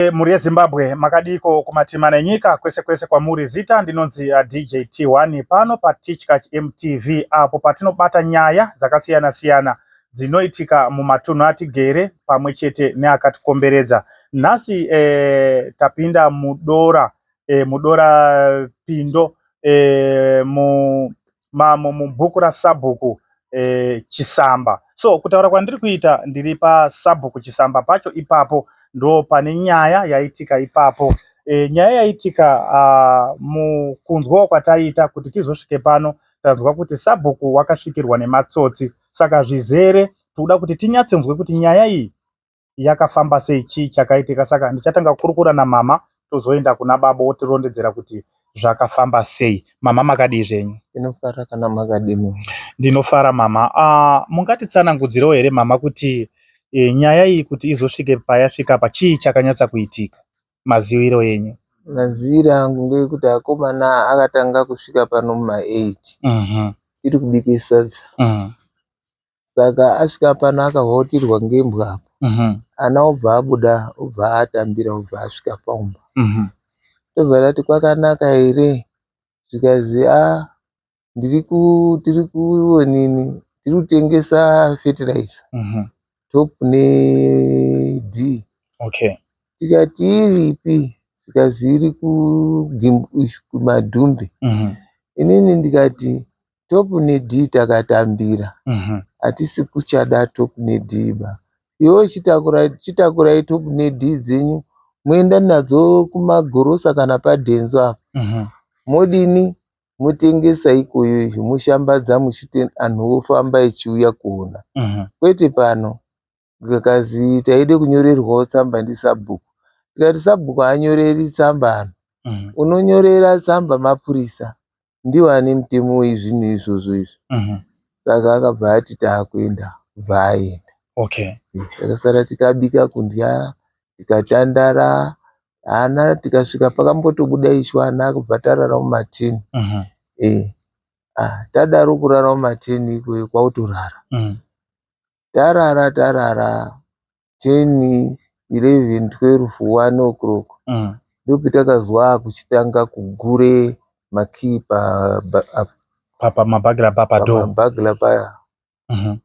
E, mhuri yezimbabwe makadiiko kumatima nenyika kwese kwese kwamuri zita ndinonzi uh, dj t1 pano patichkach mtv apo patinobata nyaya dzakasiyana siyana dzinoitika mumatunhu atigere pamwe chete neakatikomberedza nhasi eh, tapinda mudora eh, mudora pindo eh, mu, mamo mubhuku rasabhuku eh, chisamba so kutaura kwandiri kuita ndiri pasabhuku chisamba pacho ipapo ndo pane nyaya yaitika ipapo e, nyaya yaitika uh, mukunzwawo kwataiita kuti tizosvike pano tanzwa kuti sabhuku wakasvikirwa nematsotsi saka zvizere tikuda kuti tinyatsonzwe kuti nyaya iyi yakafamba sei chii chakaitika saka ndichatanga kukurukura namama tozoenda kuna baba wotirondedzera kuti zvakafamba sei mama makadii zvenyu ndinofara kana makadini ndinofara mama uh, mungatitsanangudzirewo here mama kuti e, nyaya iyi kuti izosvike payasvika pa chii chakanyatsa kuitika maziviro enyu maziviro angu ngeyekuti akomana akatanga kusvika pano muma 8 mhm. tiri kubike sadza mhm. Saka asvika pano akahwautirwa ngembwa apa mhm. ana obva abuda obva atambira obva asvika paumba mhm. tobva tati kwakanaka here zvikazi a ah, ndiri tiri kuonini tiri kutengesa fertilizer mhm. top ne d okay tikati iripi zvikazi iri kumadhumbe inini ndikati Top nedhii takatambira mhm. hatisi kuchada top nedhii ba iwe chitakurai top nedhii dzenyu moenda nadzo kumagorosa kana padhenzo apa mhm. modini motengesa ikoyo izvo moshambadza muchiti anhu ofamba echiuya kuona mhm. kwete pano zvikazi taida kunyorerwawo tsamba ndisabhuku tikati sabhuku haanyoreri tsamba ano mhm. unonyorera tsamba mapurisa ndiwo ane mutemo wezvinhu izvozvo izvo mhm. saka akabva ati taakuenda bva aenda okay. Eh, takasara tikabika kundya tikatandara ana tikasvika pakambotobuda ishu ana akubva tarara mumatini mhm. eh, ah, tadaro kurara mumatini ikweyo kwautorara tarara tarara 10 11 12 1 o'clock mm. ndopetakazwa akuchitanga kugure makii pamabhagila pamabhagila paya mm-hmm.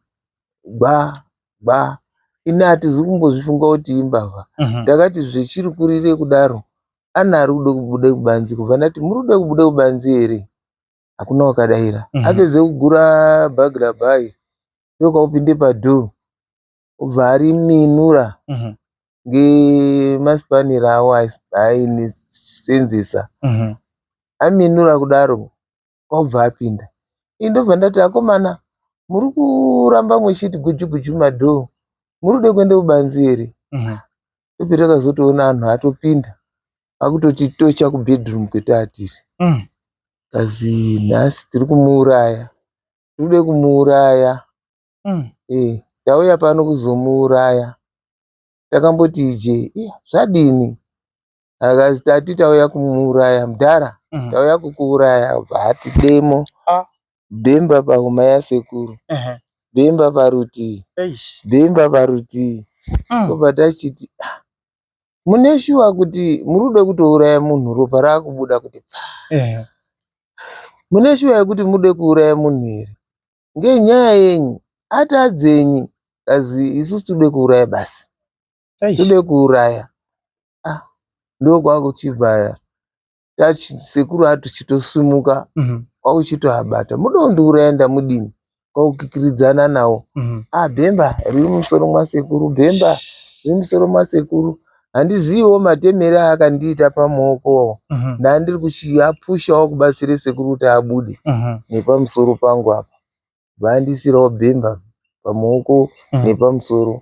gba gba ini hatizi kumbozvifunga kuti imbavha mm-hmm. ndakati zvechiri kurire kudaro ana ari kuda kubuda kubanzi kubva ndati muri kuda kubuda kubanzi here hakuna wakadaira mm -hmm. apedze kugura bhagi rabhai yoka upinde padhoo obva ari minura mm -hmm. ngemaspanira awo ainisenzesa mm -hmm. aminura kudaro kwaubva apinda ii ndobva ndati akomana muri kuramba mwechiti gujuguju madhoo muri kude kuenda kubanzi here mm -hmm. Ndobva takazotoona anhu atopinda akutotitocha kubedroom kwetaatiri Mm. kazi nhasi tiri kumuuraya tirikude kumuuraya Mm. eh, tauya pano kuzomuuraya takamboti ije "Ih, zvadini akazi tati tauya kumuuraya mudhara Mm. tauya kukuuraya bva ati demo Ah. Bhemba pahuma yasekuru Ehe. bhemba parutii Eish. bhemba parutii Mm. tobva tachiti "Ah, mune shuwa kuti muri kuda kutouraya munhu ropa raakubuda kuti pfaa Ehe. mune shuwa yekuti mude kuuraya munhu here ngenyaya yenyu ati adzenyi kazi isusu tode kuuraya basi Eish. tode kuuraya ah ndokwakuchibva sekuru atuchitosimuka mhm. kwauchitoabata mudondiuraya ndamudini kwaukikiridzana nawo mhm. a ah, bhemba riri mumusoro mwasekuru bhemba riri mumusoro mwasekuru handiziviwo matemere aakandiita pamaoko mhm. ndandiri kuchiapushawo kubatsire sekuru kuti abude nepamusoro pangu apa vaandisirawo bhemba pamaoko nepamusoro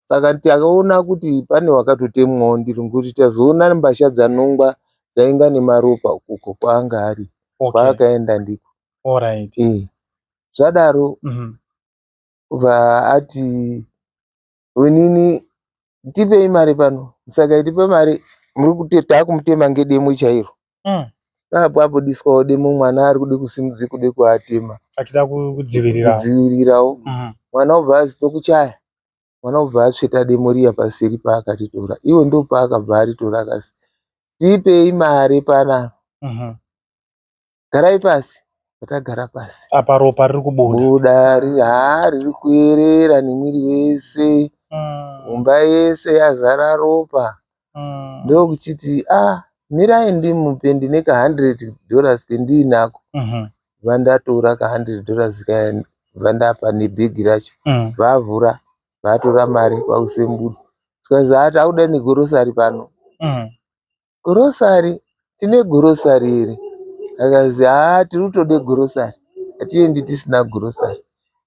saka takaona kuti pane wakatotemwawo ndiri ngokuti tazoona mbasha dzaNongwa dzainga nemaropa uko kwaanga ari okay. kwaakaenda ndiko right. e. zvadaro mm -hmm. vaati onini tipei mari pano saka itipe mari muri kuti taakumutema ngedemo chairo mm. apo abudiswawo demo mwana ari kuda kusimudza kuda kuatema achida kudzivirirawo mm. mwana obva azi tokuchaya mwana obva atsveta demo riya paseri paakatitora iwo ndo paakabva aritora akasi tipei mari panapa mm -hmm. garai pasi patagara pasi apa ropa riri kubuda haa riri kuyerera nemwiri wese mm. mumba mm. yese yazara ropa mm. ndokuchiti ah mirai ndimupe ndine ka 100 dollars kendiinako mm -hmm. vandatora ka 100 dollars kaya vandapa nebhegi racho mm. vavhura vatora mari kwakusembuda zvikanzi hati auda negorosari pano mm. gorosari tine grocery here akazi haa tiri kutode grocery hatiendi tisina grocery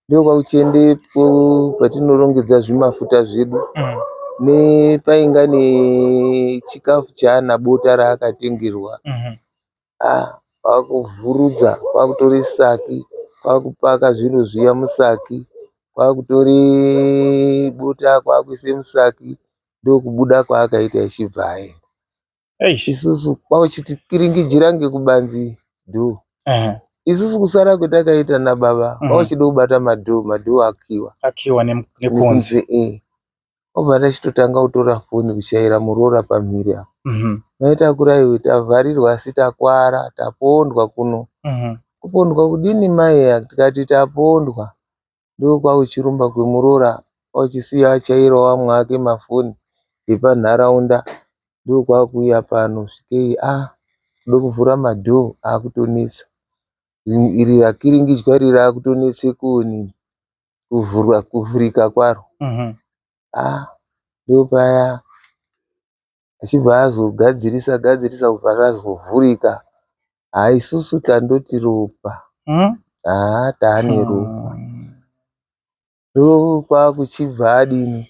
ndokwakuchiende po- patinorongedza zvimafuta zvedu Mm. nepainga nechikafu chaana bota raakatengerwa Mhm. ah kwakuvhurudza kwakutori saki kwakupaka zvinhu zviya musaki kwakutori bota kwakuise musaki ndokubuda kwaakaita achibva aenda Eish. isusu kwauchiti piringijira ngekubanzi dhoo Ehe. isusu kusara kwetakaita nababa Mhm. kwauchida kubata madhoo madhoo akiwa Akiwa nem- nekunze. nekunze eh. obva ndachitotanga kutora foni kuchaira muroora pamhiri apa Mhm. maita akura iwe tavharirwa asi takwara tapondwa kuno Mhm. kupondwa kudini mai aya tikati tapondwa ndokwakuchirumba kwemuroora kwaakuchisiya achaira vamwe vake mafoni epanharaunda ndokwakuuya pano svikei ah kuda kuvhura madhoo akutonetsa iri rakiringidzwa iri rakutonetsa kuonini kuvhurwa kuvhurika kwaro ah ndopaya. achibva azogadzirisa gadzirisa kubva razovhurika haa isusu tandoti ropa hmm? haa taane hmm. ropa ndokwakuchibva adini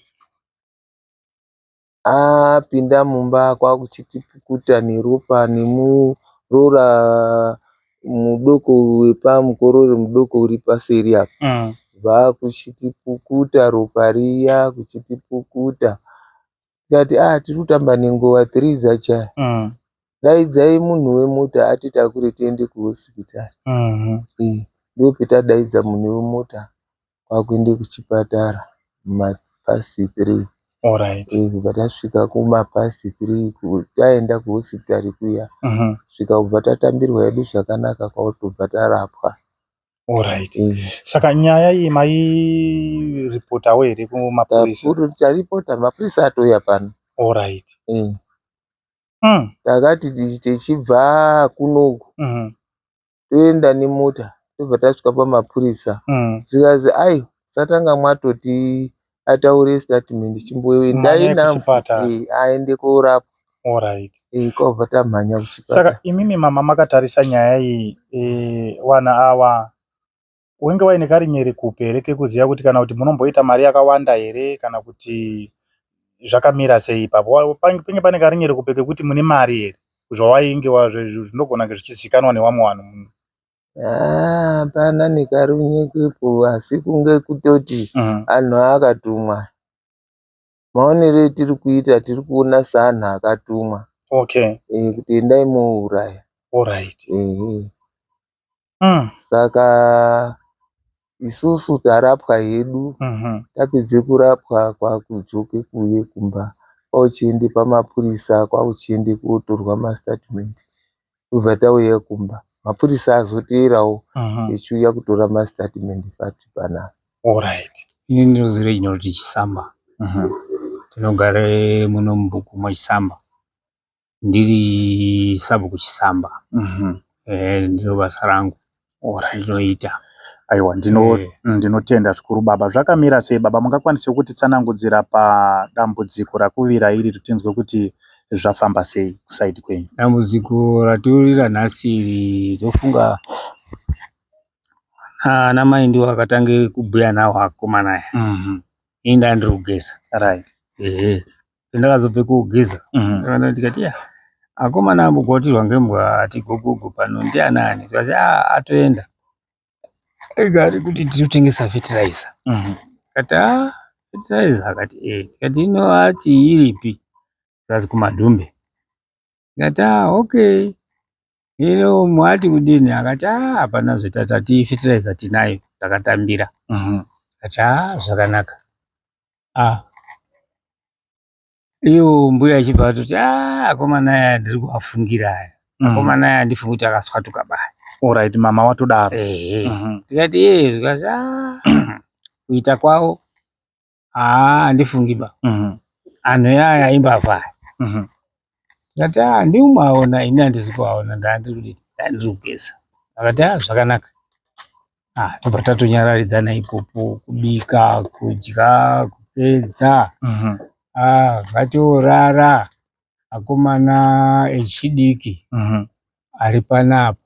apinda mumba kwakuchiti pukuta neropa nemurora mudoko wepamukorori mudoko uri paseri apa hmm. bva kuchiti pukuta ropa riya kuchiti pukuta tikati a ah, tiri kutamba nenguva three dzachaya mm. daidzai munhu wemota atitakure tiende kuhospitari mm-hmm. eh, ndo petadaidza munhu wemota kwakuende kuchipatara mapast three Alright. Eh, kubva tasvika kumapast three taenda kuhospitari kuya mm-hmm. svika kubva tatambirwa yedu zvakanaka kwakutobva tarapwa Alright. Mm. Saka nyaya iyi mairipotawo here kumapurisa? Taripota, mapurisa atouya pano. Alright. Mm. Mm. Takati tichibva kunoku mm -hmm. toenda nemota tobva tasvika pamapurisa mm. zvikanzi ai satanga mwatoti ataure statement chimboendai aende korapwa Alright. Eh, kobva tamhanya kuchipata. Saka imimi mama makatarisa nyaya iyi eh, wana awa wenge waine karinyere kupi here kekuziva kuti kana kuti munomboita mari yakawanda here kana kuti zvakamira sei ipapo penge pane karinyere kupi kekuti mune mari here zvawainge zvinogona kunge zvichizikanwa newamwe vanhu Ah, hapana ah, nekarunyekepo asi kunge kutoti mm. anhu aakatumwa maonero etiri kuita tiri kuona seanhu akatumwa okay. E, kuti endai mouraya right. e, e. mm. saka isusu tarapwa hedu mhm. tapedze kurapwa kwakudzoke kuye kumba kwauchiende pamapurisa kwauchiende kotorwa mastatement tobva tauya kumba mapurisa azoteerawo mhm. echiuya kutora mastatement pati panapa orit ini ndinozore chinoti chisamba mhm. tinogare muno mubhuku mwechisamba ndiri sabhuku chisamba mhm. eh, ndiro basa rangu ndinoita aiwa eh. mm, ndinotenda zvikuru baba zvakamira sei baba mungakwanise kuti tsanangudzira padambudziko rakuvira iri tinzwe kuti zvafamba sei kusaidi kwenyu dambudziko ratiurira nhasi iri tofunga ana mai ndiwo akatange kubhuya nawo akomana aya mhm. ini ndandiri kugeza right ehe ndakazobve kogeza mm. ndikati ya akomana ambogwatirwa ngembwa ati gogogo pano ndianani zvazi a atoenda ega ari kuti tiri kutengesa fertilizer mm. kati a fertilizer akati e kati ino ati iripi zvazi kumadhumbe ndikati haa okay hino mati kudini akati haa hapana zvetati fetiraiza tinayo takatambira mhm. ndikati haa zvakanaka ah iyo mbuya achibva atoti ah, akomana aya ndiri kuafungira aya mhm. akomana aya andifungi kuti akaswatuka baya orit mama watodaro ehe mhm. ndikati ee zvikati a ah, kuita kwavo haa handifungi ba mhm. anhu yaya imbavha aya mhm. ndikati haa ah, ndiumaona ini handisi kuaona ndaandiri kugeza akati haa ah, zvakanaka ah, tobva tatonyararidzana ipopo kubika kudya kupedza mhm. vatiorara akomana echidiki ari panapa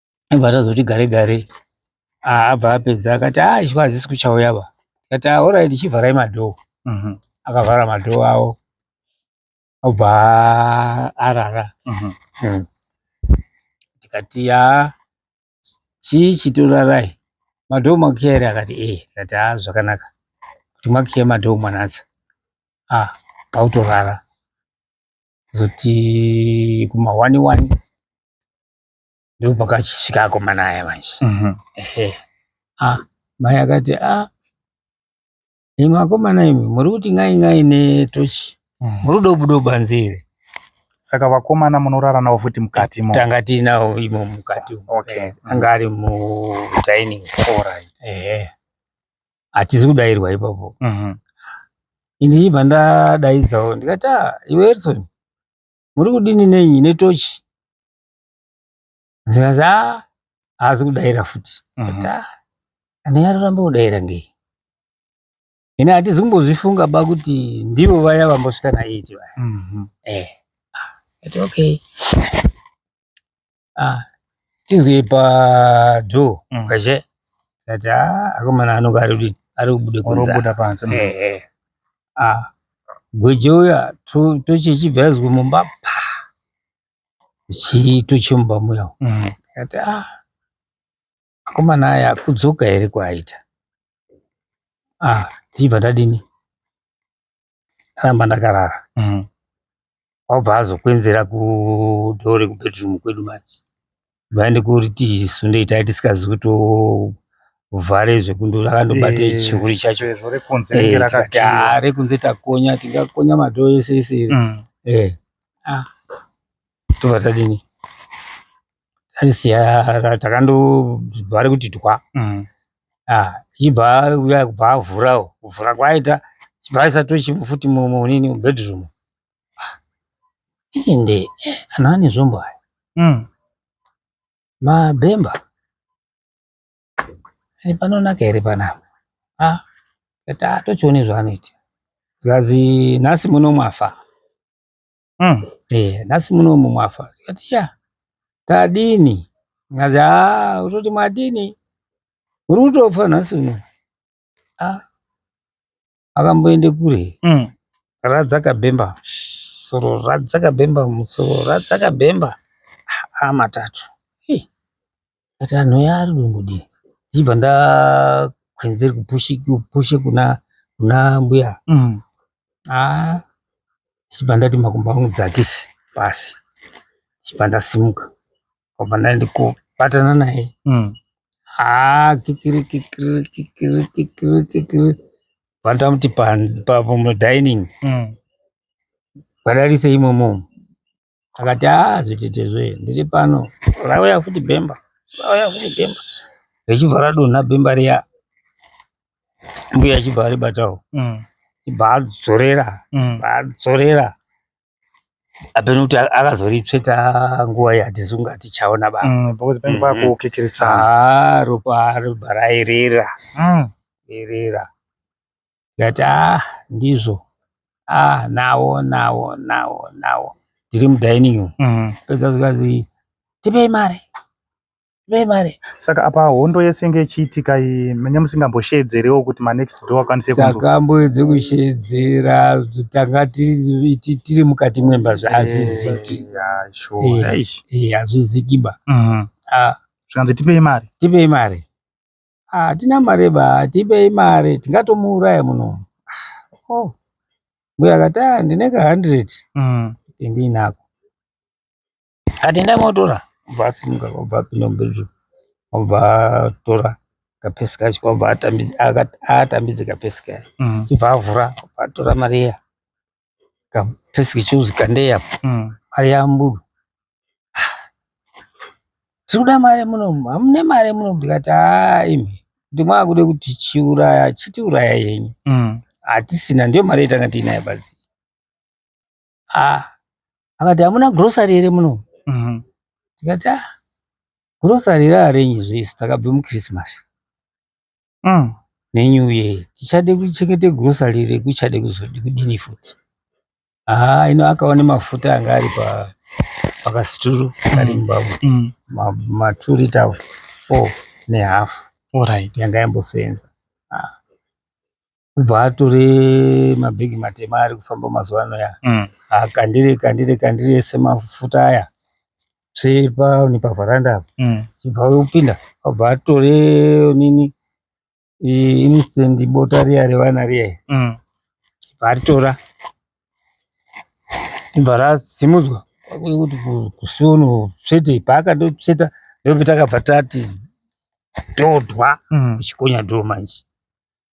aibva tazoti gare gare abva apedza akati a ah, ichwa hazisi kuchauya va kati aoraiti ah, chivharai madhoo mhm. akavhara madhoo awo obva arara mhm. hmm. tikati ya chii chitorarai madhoo makiya here akati e eh. kati a ah, zvakanaka kuti makiya madhoo mwanatsa a pautorara zoti kumahwani wani ndipo pakachisvika akomana aya manje mhm. ah, mai akati a ah, imwe akomana imwe muri kuti ngai ngai netochi mhm. muri kuda kubuda kubanze here saka vakomana munorara navo futi mukati mo tanga tiinavo imo mukati okay. Eh, anga ari mudining right. ehe hatizi kudairwa ipapo mhm. ini ndibva ndadaidzavo ndikati ah, iwe erison muri kudini nenyi netochi zvikanzi a ah, haazi kudaira futi mhm. ah, ane aroramba kudaira ngei ine hatizi kumbozvifunga ba kuti ndivo vaya vambosvika na eight vaya mhm. eh, ah, ati okay tinzwe padho kwazhe mm. tikati a akomana anonga ari kubude kunzaa pansi mm. eh, eh. gweje uya tochechibva yazwe mumba pa chiito chemumba muya mm. ati ah akomana aya akudzoka here kwaaita ah tichibva tadini aramba ndakarara mm. wabva azokwenzera kudhoo rekubedroom kwedu manje Mhani kuriti isu ndiye tanga tisikazi kutovhare zvekundura akandobata Eh, chihuri chacho sezvo rekunze Eh, ringe tikati, "Ah, rakakiwa rekunze takonya tingakonya madhoo ese ese iri Mm. Eh, ah, tobva tadini tarisiya takandobhare kuti twa Mm. Ah, chibva uya kubva avhurawo kuvhura kwaita chibva aisa tochi futi mu- munini mubedroom ende anhu ane zvombo aya mm. mabhemba eh, panonaka here panapa ah, kati atochione zvaanoita zikazi nhasi muno mwafa mm. e, nhasi muno mu mwafa kati ya tadini ngazi a ah, utoti mwadini muri kutofa nhasi uno ah akamboende kure mm. radzaka bhemba soro radzaka bhemba musoro radzaka bhemba ah, matatu hey. but anhu aya ari dombodii ndichibva ndakwenzeri kupushe kuna kuna mbuya mm. ah ndichibva ndati makumbo angu dzakise pasi ndichibva ndasimuka kwabva ndaenda kubatana naye mm. haa kikiri kikiri kikiri kikiri kikiri vandamuti pamudining mm. badarise imomo akati haa zvitetezve ndiri pano rauya futi bhemba rauya futi bhemba richibva radonha bhemba riya mbuya chibva aribatawo mm. chibva adzorera mm. adzorera apeno kuti akazoritsveta nguva yatizi kunge atichaona bapakuti mm, pange mm, pakukikiritsa mm. ah, ropa ropa rairera irera tikati a ah, ndizvo a ah, nawo nawo nawo nawo ndiri mudining room pedza zvikanzi tipei mari vemari saka apa hondo yese inge ichiitika iyi mene musingambosheedzerewo kuti manext door akwanise takamboedze kusheedzera tanga tiri mukati mwemba zvaazviziki hazviziki ba zvikanzi tipei mari tipei mari hatina mari ba tipei mari tingatomuuraya muno oh. mbuya akati ndine ka hundred mm. ndiinako Kati ndai motora obva asimuka obva apinda mubedroom obva atora kapesi kacho obva atambidze kapesi kaya mm. chibva avhura obva atora mari iya kapesi kechuzi kandei apo mm. mari yamburu tiri kuda mari munomu hamune mari munomu ndikati haa imi kuti mwakude kuti chiuraya chitiuraya yenyu mm. hatisina ndiyo mari yatanga tiinayo badzi ah akati hamuna grocery here muno mhm. tikati ah grocery raarenyi zvese takabve muchristmas mm. nenew year tichade kuchengete grocery here kuchade kuzodi kudini futi haa ah, ino akaone mafuta anga ari pa pakasituru kari mm. mubabo mm. matwo rita four nehalf yanga yamboseenza ah. kubva atore mabhegi matema ari kufamba mazuva ano aya mm. akandire kandire kandire ese mafuta aya sepa nepavharanda apa mm. chibva upinda abva atore nini instant bota riya revana riya mm. ibva aritora ibva rasimudzwa kuti kusiono svete paakandosveta ndopita akabva tati todwa mm. kuchikonya doo manje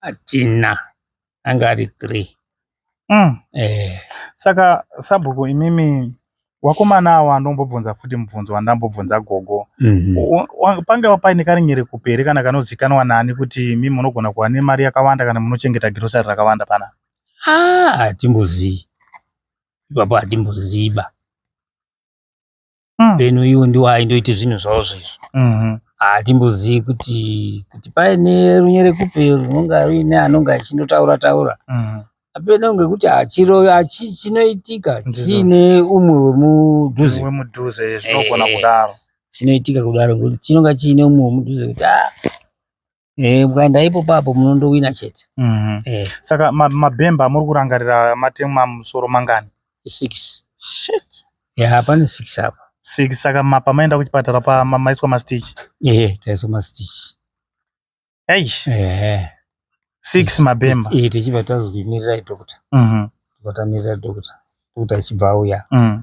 atina anga ari three mm. eh. saka sabhuku imimi wakomana awo andombobvunza futi mubvunzo wandambobvunza gogo mm -hmm. pangava paine karinyere kuperi kana kanozikanwa nani kuti mimi munogona kuva nemari yakawanda kana munochengeta girosari rakawanda pana ah, hatimbozivi ipapo hatimboziva Mm. then uyu ndiwo aindoita zvinhu zvavo zvezvo Mhm. hatimbozivi kuti kuti paine runyerekupe runonga ruine anonga achindotaura taura Mhm. apena kunge kuti hachiro hachi- chinoitika Ndizvo. chiine umwe wemudhuze wemudhuze zvinogona Eh. kudaro chinoitika kudaro ngekuti chinonga chiine umwe wemudhuze kuti ah Eh, ukaenda ipopo apo munondowina chete. Mhm. Eh, Saka ma- mabhemba amuri kurangarira matemwa musoro mangani? six. Shit. Yeah, pane six apa. Six saka ma- pamaenda kuchipatara pa ma- maiswa mastitch. Eh, taiswa mastitch. Eish. Eh. Six mabhemba. Eh, tichibva tazi kuimirirai doctor. Mhm. Tikamirira doctor. Doctor achibva auya. Mhm.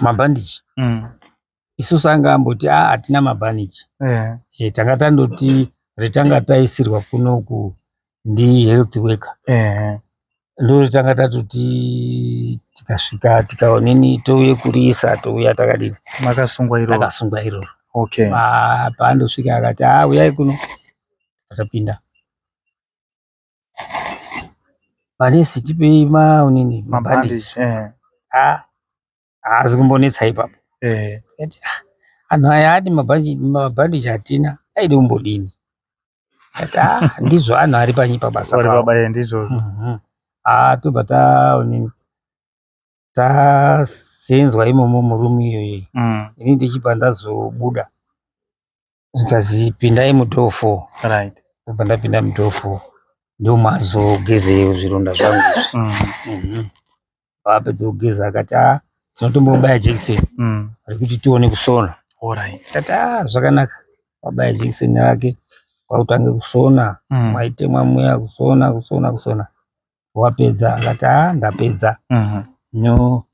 mabhandichi mm. isusu anga amboti a ah, hatina mabhandichi yeah. e, tanga tandoti retanga taisirwa kunoku ndi health worker yeah. ndo retanga tatoti tikasvika tikaonini touye kuriisa touya takadini makasungwa iroro takasungwa iroro okay. paandosvika akati a ah, uyai kuno atapinda Manesi tipei maonini mabhandiji eh. ah, haazi kumbonetsa ipapo eh. ah, anhu aya ati mabhandiji hatina aidi kumbodini ati ah, ndizvo anhu ari panyi pabasa pabasa ndizvozvo mhm. tobva taonini tasenzwa imomo muroom iyoyi mm. ini ndichibva ndazobuda zvikanzi pindai mudoor four right ndobva ndapinda mudoor four ndomazogeze zvironda zvangu mm. mhm. apedza kugeza akati a ah, tinotombobaya jekiseni mm. rekuti tione kusona kati a ah, zvakanaka wabaya jekiseni rake kwakutange kusona mm. maitemwa muya kusona kusona kusona wapedza akati haa ah, ndapedza mhm. no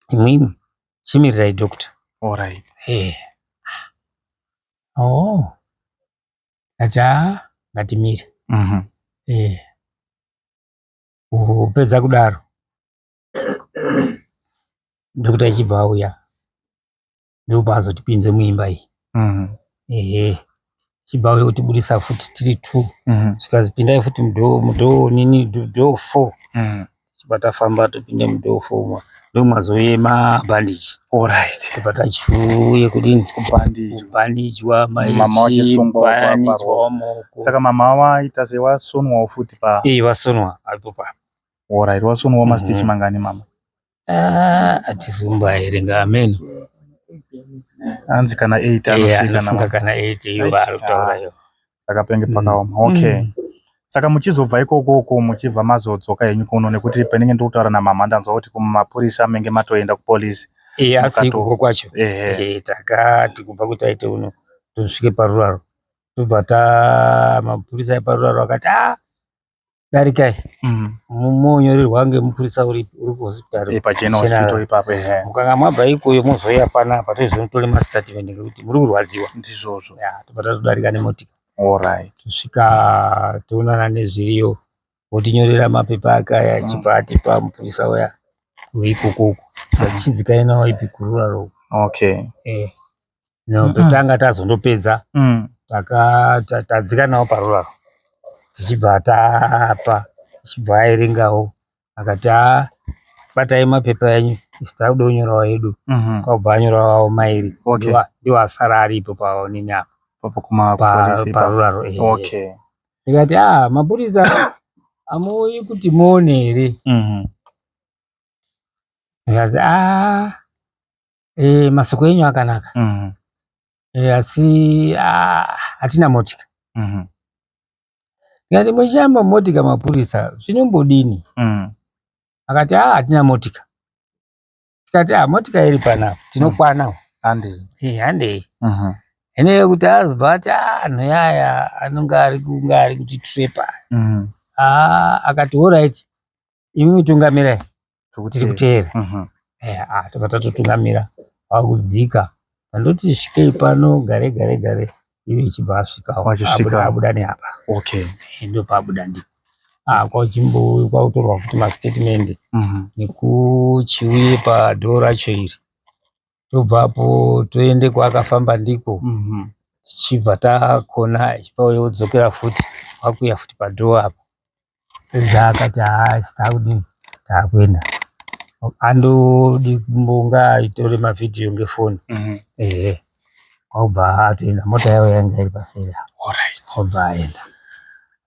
imwimwi chimirirai doctor orit eh. o oh. ati haa ah, ngatimire mhm. eh. upedza kudaro doctor ichibva auya ndopaazotipinze muimba iyi mm. ehe chibva uyo kutibudisa futi tiri two mm. zvikazipindai futi mudho mudho nini dho four mm. chibva tafamba topinde mudho four mwa ndomwazoyema bhandiji orit tibva tachiuye kudini kubhandijwa mabayanijwa maoko saka mama waita sei wasonwawo futi pa ii vasonwa apo pa orit wasonwawo mastichi mhm. mangani mama Ah, atizumba here ngameno hanzi kana 8 anosvika kana 8 iyo vaari kutaura iyo saka penge pakaoma mm. okay mm. saka muchizobva ikoko uko muchibva mazodzoka henyu kuno nekuti panenge ndiri kutaura namama ndanzwa kuti kumapurisa menge matoenda kupolisi iye asi ikoko kwacho eh, takati kubva kuti aite uno tosvike paruraro tobva ta mapurisa eparuraro akati a ah, darikai mm. monyorerwa ngemupurisa uri kuhospitari eh, pachenahospital ipapo eh. mukanga mwabva ikoyo mozouya panapa toizonotore mastatement ngekuti muri kurwadziwa ndizvozvo tobva tatodarika nemotika orit tosvika toonana nezviriyo wotinyorera mapepa akaya achibva mm. atipa mupurisa uya weikokoko satichidzikai nawo ipi kururaro okay eh. no petanga tazondopedza mm. tadzika nawo paruraro tichibva tapa tichibva airingawo akati a batai mapepa enyu isi takuda kunyorawo edu mhm. kwakubva anyorawawo mairi ndiwo asara aripo paonini apa paruraro ndikati a mapurisa amuuyi kuti muone here mhm. ndikazi a Eh, masoko enyu akanaka. Mhm. Eh, asi ah, hatina motika. Mhm. Ndikati muchama motika mapurisa zvinombodini? Mhm. Akati ah, hatina motika. Tikati ah, motika iri pana tinokwana. Hande. Eh, handei. Mhm. Hene yekuti azobva ati ah, anhu yaya anonge ari kunge ari kuti trepa. Mhm. Ah, akati all right. Imi mutungamirai. tiri kuteera mhm. eh, ah, tobva tatotungamira vakudzika andoti svikei pano gare gare gare iwe ichibva asvikaoabuda neapa okay eh, ndopaabuda ndi ah, kwakutorwa futi mastatement mhm. nekuchiuye padhoo racho iri tobva apo toende kwaakafamba ndiko mhm. tichibva takona ichipauya odzokera futi kwakuya futi padhoo apo pedza akati haasi taakudini taakuenda andodi mbonga itore mavhidhiyo ngefoni mhm. ehe kwaubva atoenda mota yavo yanga iri paseri apo obva aenda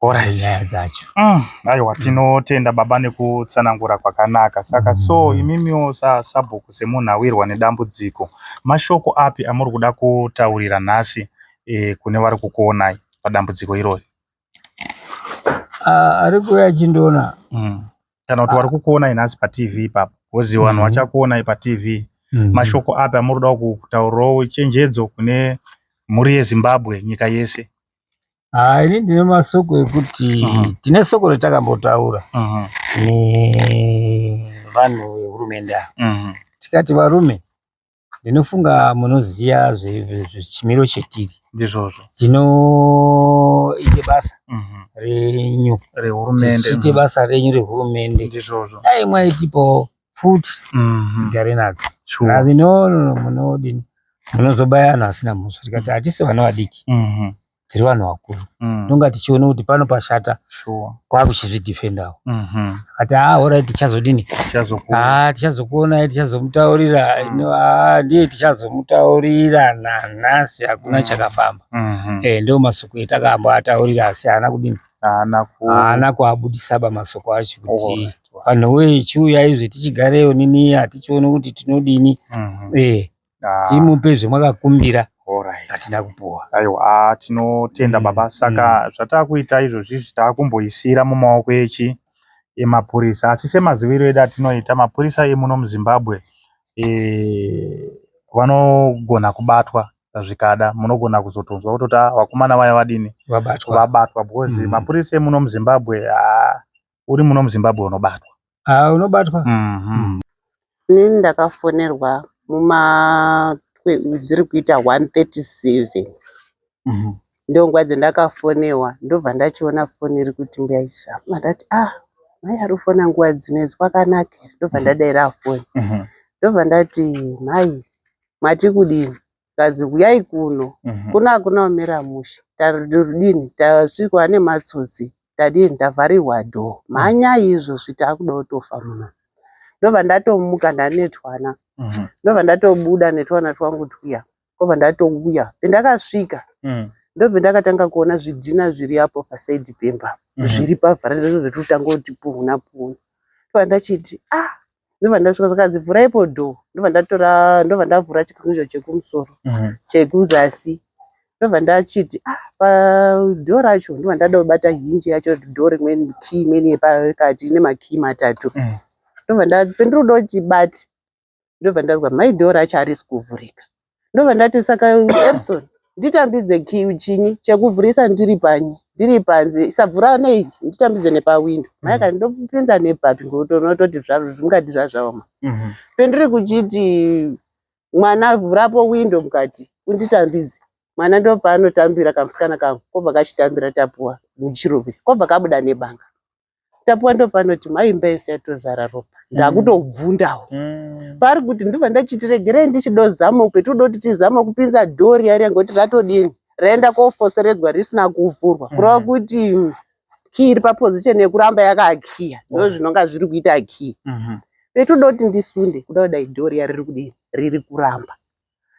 Alright. Nyaya dzacho. Mm, aiwa tinotenda baba nekutsanangura kwakanaka saka so imimiwo sa sabhuku semunhu awirwa nedambudziko mashoko api amuri kuda kutaurira nhasi eh, kune vari kukuonai padambudziko irori Ah, ari kuuya achindiona mm. kana kuti vari kukuonai nhasi patv ipapo bhozi vanhu Mhm. vachakuonai patv Mhm. mashoko api amuri kuda kutaurawo chenjedzo kune mhuri yezimbabwe nyika yese Ah, ini ndine masoko ekuti uh mhm. -huh. tine soko ratakambotaura uh mhm. -huh. nevanhu vehurumende ava uh mhm. -huh. tikati varume ndinofunga munoziva zvechimiro chetiri ndizvozvo tinoite basa renyu rehurumendechiite basa renyu rehurumende ndizvozvo dai mwaitipawo pfuti mhm. tigare nadzo asi no no munodini munozobaya vanhu vasina mhosva tikati mm. hatisi vana vadiki mhm. tiri vanhu vakuru mm. tonga tichiona kuti pano pashata kwakuchizvidefendawo mhm. akati haa horai tichazodini haa tichazokuonai tichazomutaurira inoa mm. ndiye tichazomutaurira nanhasi hakuna chakafamba eh, ndo masoko etakamba ataurira asi haana kudini haana kuabudisaba masoko acho kuti Vanhu woye chiuyai zve tichigareyo nini hatichione kuti tinodini. Mhm. Eh, Ah, timupe zvemwakakumbira alright. hatina kupuwa. Aiwa, ah, tinotenda Mm, baba saka zvataakuita izvozvi izvi taakumboisira mumaoko echi emapurisa asi semaziviro edu atinoita mapurisa emuno muzimbabwe eh, vanogona kubatwa zvikada munogona kuzotonzwa kutoti "Ah, vakomana vaya vadini Vabatwa. vabatwa because Mm. mapurisa emuno muzimbabwe ah, uri muno muzimbabwe unobatwa ah, unobatwa mm -hmm. ini ndakafonerwa muma dziri kuita 137 mm -hmm. ndonguva dzendakafonewa ndobva ndachiona foni iri kuti mbuya isama ndati ah mai ari kufona nguva dzinedzi kwakanakira ndobva mhm. ndadaira foni mhm. ndobva ndati mhai mati kudini kazi huyai kuno mhm. kuno hakuna umira mushe tarudini tasvikwa nematsotsi tadii ndavharirwa door mhanya izvo sviti akuda kutofa muno ndobva ndatomuka ndanetwana mhm. ndobva ndatobuda netwana twangu twiya kobva ndatouya pendakasvika mhm. ndobva ndakatanga kuona zvidhina zviri apo pasaidi pemba mhm. zviri pavharanda zvototanga kuti puhuna puhuna ndobva ndachiti ah ndobva ndasvika zvakanzi vhura ipo door ndobva ndatora ndobva ndavhura chikunjo chekumusoro Mhm. chekuzasi ndobva ndachiti ah padoor racho ndobva ndada kubata hinji yacho door rimweni key imweni yepakati ine makey matatu Mm. ndobva nda- pendiri kuda kuti bati ndobva ndanzwa mai door racho harisi kuvhurika ndobva ndati saka erison nditambidze kiu chini chekuvhurisa ndiri panyi ndiri panze isavhura nei nditambidze nepawindo mm. maika ndopinza nepapi ngokuti unototi zvaro zvingati zvazvaoma mm-hmm. pendiri kuchiti mwana vhurapo windo mukati unditambidze mwana ndopaanotambira kamusikana kangu kobva kachitambira tapuwa muchirubi kobva kabuda nebanga tapiwa ndopanoti mai imba yese yatozara ropa mm. ndakutobvundawo mm. paari kuti ndibva ndachitiregerei ndichidozama petinoda kuti tizama kupinza dhori yari yange kuti ratodini raenda kofoseredzwa risina kuvhurwa mm. kureva kuti kii iri paposition yekuramba yakakiya ndo oh. zvinonga zviri kuita kii mm-hmm. petinoda kuti ndisunde kuda kudai dhori yari riri kudini riri kuramba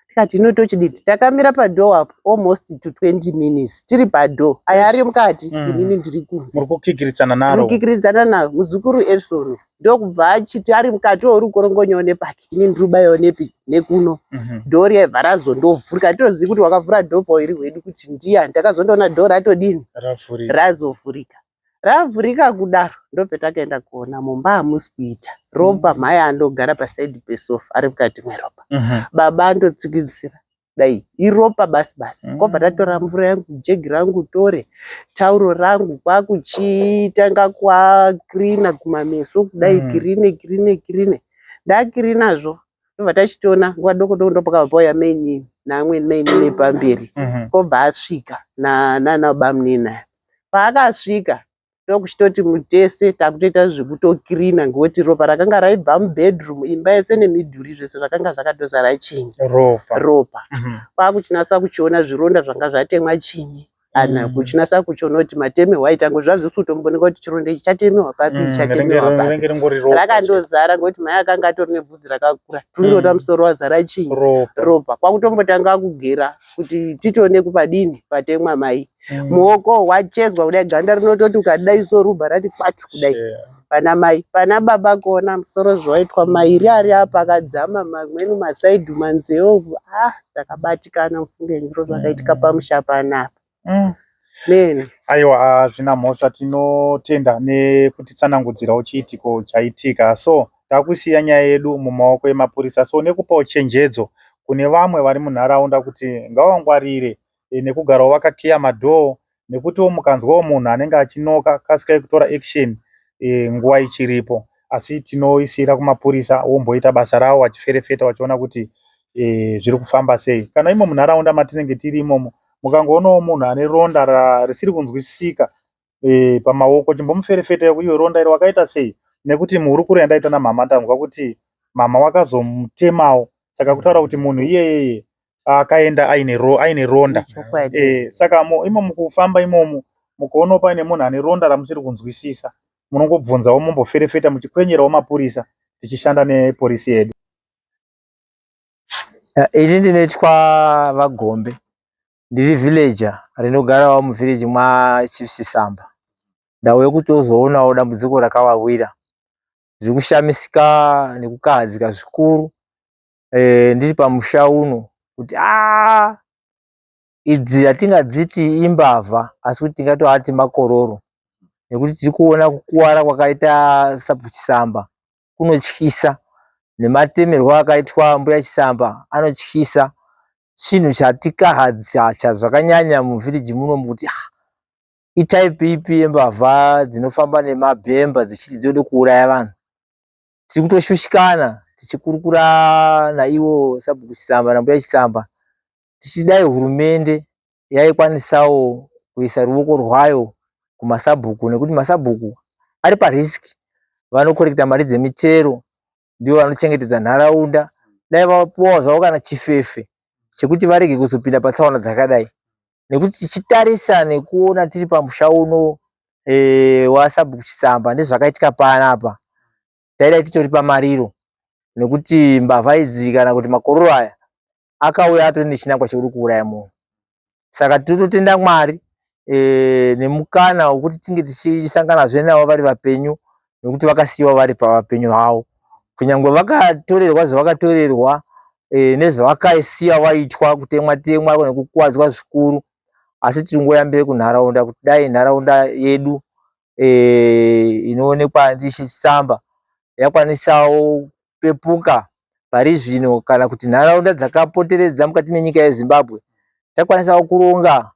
tikati hino tochidini takamira padoor apo almost to 20 minutes tiri padoor aya ari mukati Mm. inini ndiri kunze muri kukikiridzana naro kukikiridzana nayo muzukuru erison ndokubva achiti ari mukati ouri kukorongonyawo nepaki ini ndiri kubayiwa nepi nekuno Mhm. dhoo riyaibva razondovhurika hatitozivi kuti wakavhura dhoo pairi hwedu kuti ndiyani takazondoona dhoo ratodini ravhurika razovhurika Ravhurika kudaro ndopetakaenda kuona mumba hamusi kuita ropa mm. mhai andogara pasaidi pesofa ari mukati mweropa mm -hmm. baba andotsikidzira dai iropa basi basi mm. kobva tatora mvura yangu jegi rangu tore tauro rangu kwakuchitanga kwakrina kumameso kudai mm. kirine kirine kirine ndakirinazvo tobva tachitiona nguva doko doko ndopakabva pauya mainini naamweni mainini epamberi mhm. pobva asvika nanabamunini aya paakasvika ndokuchitoti mutese takutoita zvekutokirina ngokuti ropa rakanga raibva mubedroom imba yese nemidhuri zvese zvakanga zvakatozara chinyi ropa ropa mhm. kwakuchinasa kuchiona zvironda zvanga zvatemwa chinyi kana mm. kuchinasa kuchiona kuti matemewa aita ngo zvazvisi kutomboneka kuti chironda ichi chatemewa papi mm, chatemewa papi rakandozara ngokuti mai akanga atori nebvudzi rakakura tunoda mm. musoro wazara chii ropa kwakutombotanga kugera kuti titoone kupadini patemwa mai mm. muoko wachezwa kudai ganda rinototi ukadai so rubha rati kwatu kudai yeah. Pana mai, pana baba kuona musoro zvaitwa mairi ari apa akadzama mamweni masaidhu manzeo ah takabatikana mufunge zviro zvakaitika pamusha panapa. Mm. Mene. Aiwa hazvina mhosva tinotenda nekutitsanangudzirawo chiitiko chaitika so takusiya nyaya yedu mumaoko emapurisa so nekupawo chenjedzo kune vamwe vari munharaunda kuti ngawangwarire nekugarawo vakakiya madhoo nekutiwo mukanzwawo munhu anenge achinoka kasikai kutora action nguva ichiripo asi tinoisiira kumapurisa womboita basa rawo wachiferefeta wachiona kuti zviri kufamba sei kana imo munharaunda matinenge tiri imomo mukangoonawo munhu ane ronda risiri kunzwisisika eh, pamaoko chimbomuferefeta yoku iyo ronda iro wakaita sei nekuti muhurukuro yandaita namhama ndanzwa kuti mhama wakazomutemawo saka kutaura kuti munhu iyeyeye akaenda aine ro, aine ronda Chokwadi. eh, saka mo, imo mukufamba imomo mukoonawo paine munhu ane ronda ramusiri kunzwisisa munongobvunzawo momboferefeta muchikwenyerawo mapurisa tichishanda neporisi yedu Ya, ini ndinoitwa vagombe ndiri villager rinogarawo muvillage mwachief sisamba ndauya kutozoonawo dambudziko rakavawira zviri kushamisika nekukahadzika zvikuru e, ndiri pamusha uno kuti aa idzi hatingadziti imbavha asi kuti tingatoati makororo nekuti tiri kuona kukuwara kwakaita sabvuchisamba kunotyisa nematemerwo akaitwa mbuya chisamba anotyisa chinhu chatikahadzatya zvakanyanya muvhiriji muno mukuti ah, itaipi ipi yembavha dzinofamba nemabhemba dzichiti dzode kuuraya vanhu tiri kutoshushikana tichikurukura naivo sabhuku chisamba nambuya chisamba tichidai hurumende yaikwanisawo kuisa ruoko rwayo kumasabhuku nekuti masabhuku ari pariski vanokoreketa mari dzemitero ndivo vanochengetedza nharaunda dai vapuwawo zvavo kana chifefe chekuti varege kuzopinda patsaona dzakadai nekuti tichitarisa nekuona tiri pamusha uno e, eh, wasabhuku chisamba nezvakaitika panapa taidai titori pamariro nekuti mbavha idzi kana kuti makororo aya akauya atori nechinangwa chekuri kuuraya munhu saka tototenda mwari e, nemukana wekuti tinge tichisanganazve navo vari vapenyu nekuti vakasiyiwa vari pavapenyu havo kunyange vakatorerwa zvavakatorerwa e, nezvavakaisiya vaitwa kutemwa temwa nekukuwadzwa zvikuru asi tiri ngoyambire kunharaunda kuti dai nharaunda yedu eh, inoonekwa ndiShe Chisamba yakwanisawo kupepuka pari zvino kana kuti nharaunda dzakapoteredza mukati menyika yezimbabwe takwanisawo kuronga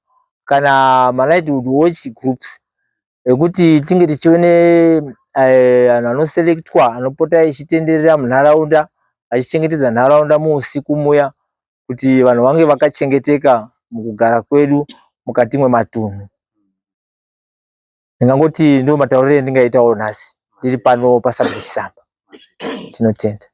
kana malightyhood watch groups ekuti tinge tichione eh, vanhu anoselectwa anopota ichitenderera munharaunda achichengetedza nharaunda muusiku muya kuti vanhu vange vakachengeteka mukugara kwedu mukati mwematunhu ndingangoti ndiwo matauriro endingaitawo nhasi ndiri pano pasabhuku chisamba tinotenda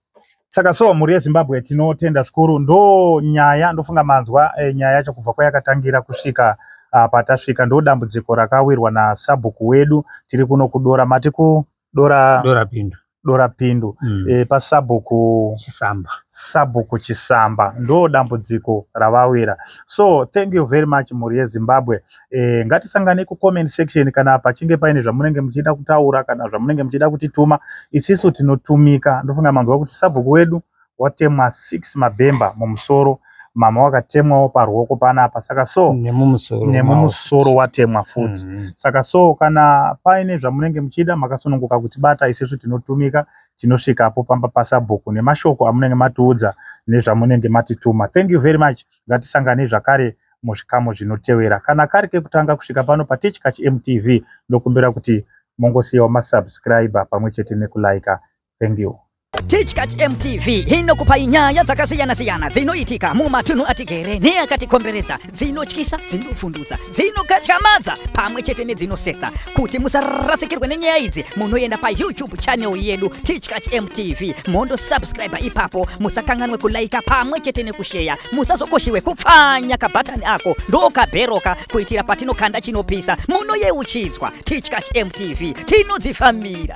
saka so mhuri yezimbabwe tinotenda zvikuru ndo nyaya ndofunga manzwa e, nyaya yacho kubva kwayakatangira kusvika uh, patasvika ndo dambudziko rakawirwa nasabhuku wedu tiri kuno kudora mati ku dora dora pindu dora pindu mm. e, pasabhuku chisamba sabhuku chisamba ndo dambudziko ravawira so thank you very much mhuri yezimbabwe e, ngatisangane kucomment section kana pachinge paine zvamunenge muchida kutaura kana zvamunenge muchida kutituma isisu tinotumika ndofunga manzwa kuti sabhuku wedu watemwa six mabhemba mumusoro mama wakatemwawo paruoko panapa saka so nemumusoro watemwa futi mm -hmm. saka so kana paine zvamunenge muchida makasununguka kuti bata isesu tinotumika tinosvikapo pamba pasabhuku nemashoko amunenge matiudza nezvamunenge matituma thank you very much ngatisanganei zvakare muzvikamu zvinotevera kana kari kekutanga kusvika pano patechkach mtv ndokumbira kuti mongosiyawo masubscriber pamwe chete nekulaika thank you Tichkach MTV inokupai nyaya dzakasiyana-siyana dzinoitika mumatunhu atigere neakatikomberedza dzinotyisa, dzinovhundutsa, dzinokatyamadza pamwe chete nedzinosetsa. Kuti musarasikirwe nenyaya idzi, munoenda paYouTube channel yedu Tichkach MTV mondosubscriber ipapo. Musakanganwe kulaika pamwe chete nekusheya. Musazokoshiwe kupfanya kabhatani ako ndokabheroka kuitira patinokanda chinopisa. Munoyeuchidzwa Tichkach MTV tinodzifamira.